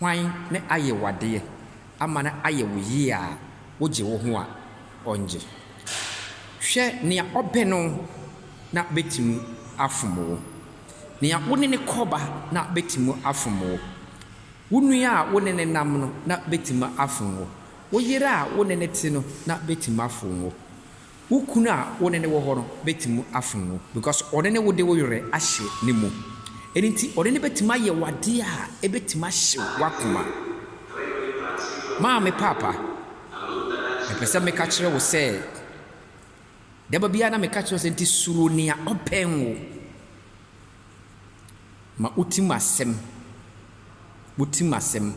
Hwan na ayɛ w'adeɛ ama no ayɛ wo yie a wogye wo ho a ɔnngye? Hwɛ nea ɔbɛ no na bɛtumi afom wo, nea wo ne no kɔba na bɛtumi afom wo, wo nua a wo ne no nam no na bɛtumi afom wo, wo yere a wo ne no te no na bɛtumi afom wo. Wo kunu a wo ne no wɔ hɔ no betumi afom wo because ɔne ne wo de wo werɛ ahyɛ ne mu. Ɛno nti, ɔne no betumi ayɛ wo ade a ebetumi ahyew w'akoma. Maame Paapa, mepɛ sɛ meka kyerɛ wo sɛ, da ba biara na meka kyerɛ wo sɛ, nti suro nea ɔbɛn wo. Ma wo tirim asɛm, wo tirim asɛm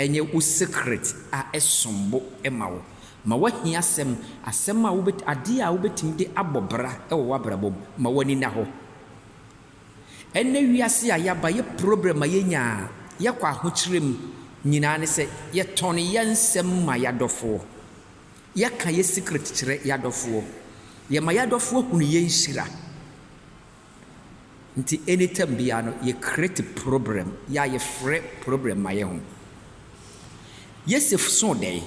nyɛ wo secret a ɛsom bo ma wo. Ma w'ahiasɛm, asɛm a wobɛt adeɛ a wobɛtumi de abɔ bra wɔ w'abrabɔ mu, ma w'ani nna hɔ. Ɛnnɛ wiase a yɛaba, yɛ problem a yɛnya a yɛkɔ ahokyerɛ mu nyinaa ne sɛ yɛtɔn yɛn nsɛm ma yɛn adɔfoɔ. Yɛka yɛn secret kyerɛ yɛn adɔfoɔ. Yɛma yɛn adɔfoɔ hunu yɛn nhyira. Nti anytime biara no yɛ create problem yɛ a yɛ frɛ problem ma yɛ ho. Yosef soo dɛɛ,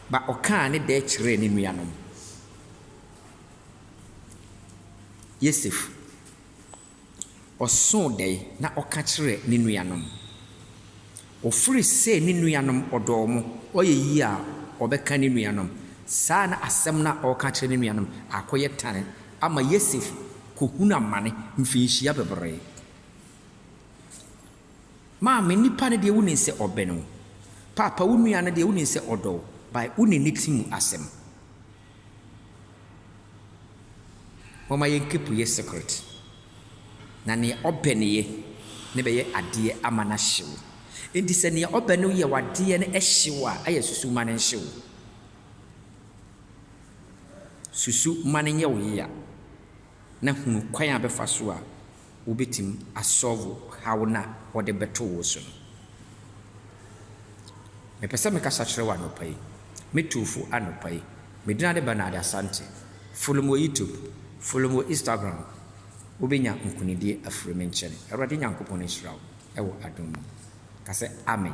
ba ɔkaa ne dɛɛ kyerɛɛ ne nua nom. Yosef ɔsoo dɛɛ na ɔka kyerɛɛ ne nua nom. Ɔfiri sɛ ne nuanom ɔdɔɔ mo, ɔyɛ yie a ɔbɛka ne nuanom. Saa na asɛm no a ɔreka akyerɛ ne nuanom akɔyɛ tan ama Yosef kɔhunu amane mfirinhyia bebree. Maame, nipa no deɛ wonim sɛ ɔbɛn wo. Paapa, wo nua no deɛ wonim sɛ ɔdɔ wo, but wonim ne ti mu asɛm. Momma yɛnkepu yɛ secret, na nea ɔbɛ no yɛ no bɛyɛ adeɛ ama no ahye wo. Enti sɛ nea ɔbɛ no yɛ w'adeɛ no hye wo a, ayɛ susu ma no nhye wo. Susu ma no nyɛ wo yea, na hunu kwan a bɛfa so a wobetumi asɔlvo haw no a wɔde bɛto wo so no. Mepɛ sɛ mekasa kyerɛ wo anɔpa yi, me Tufo anɔpa yi. Me din ade Bernard Asante. Follow me wɔ YouTube, follow me wɔ Instagram. Wobenya nkonidie afiri me nkyɛn. Awurade Nyankopɔn nhyira wo wɔ adom mu. Ka sɛ, Amen.